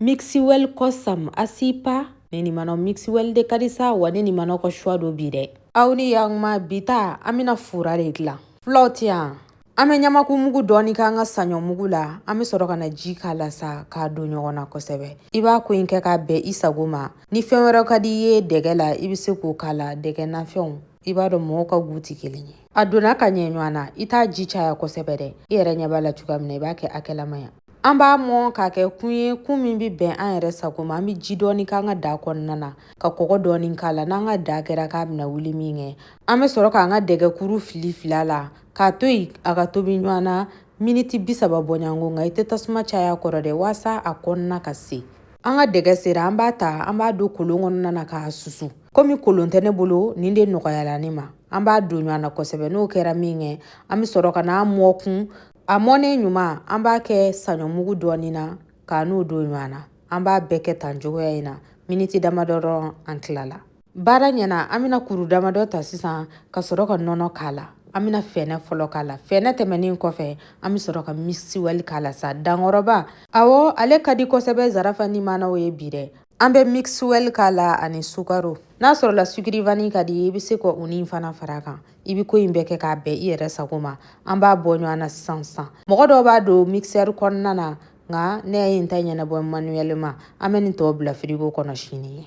Mixiwell Kosam Asipa ne ni manɔ Mixiwell de ka di sa wa ne ni manɔ ka choix don bi dɛ aw ni yaguma bita an bɛna fura de dilan fulaw tɛ yan an bɛ ɲamaku mugu dɔɔni k'an ka saɲɔ mugu la an bɛ sɔrɔ ka na ji k'a la sa k'a don ɲɔgɔn na kosɛbɛ i b'a ko in kɛ k'a bɛn i sago ma ni fɛn wɛrɛ ka di i ye dɛgɛ la i bɛ se k'o k'a la dɛgɛ nafɛnw i b'a dɔn mɔgɔw ka goût tɛ kelen ye a donna ka ɲɛ ɲɔgɔn na i t'a ji caya kosɛbɛ dɛ i yɛrɛ ɲɛ b'a la cogoya min na i b'a kɛ hakɛlamaya an b'a mɔn k'a kɛ kun ye kun min bɛ bɛn an yɛrɛ sago ma an bɛ ji dɔɔni k'an ka daa kɔnɔna na ka kɔgɔ dɔɔni k'a la n'an ka daa kɛra k'a bɛna wuli min kɛ an bɛ sɔrɔ k'an ka dɛgɛkuru fili fili a la k'a to yen a ka tobi ɲɔgɔn na miniti bi saba bɔɲɔgɔnko nka i tɛ tasuma caya a kɔrɔ dɛ waasa a kɔnɔna ka se an ka dɛgɛ sera an b'a ta an b'a don kolon kɔnɔna na k'a susu komi kolon tɛ ne bolo nin de nɔgɔyala ne ma an b'a don ɲɔgɔn na kosɛbɛ n'o kɛra min kɛ an bɛ sɔrɔ ka n'a mɔn kun a mɔnen ɲuman an b'a kɛ saɲɔmugu dɔɔnin na k'a n'o don ɲɔgɔn na an b'a bɛɛ kɛ tan cogoya in na miniti damadɔ dɔrɔn an tilala baara ɲɛna an bɛna kuru damadɔ ta sisan ka sɔrɔ ka nɔnɔ k'a la an bɛna fɛnɛ fɔlɔ k'a la fɛnɛ tɛmɛnen kɔfɛ an bɛ sɔrɔ ka Mixiwell k'a la sa dankɔrɔba awɔ ale ka di kosɛbɛ zarafa ni manaw ye bi dɛ an bɛ Mixiwell k'a la ani sukaro n'a sɔrɔla sukiri vanille ka di i bɛ se ka o ni fana fara kan i bɛ ko in bɛɛ kɛ k'a bɛn i yɛrɛ sago ma an b'a bɔ ɲɔgɔn na sisan sisan mɔgɔ dɔw b'a don mixeur kɔnɔna na nka ne ye n ta ɲɛnabɔ manuellement an bɛ nin tɔw bila frigo kɔnɔ sini ye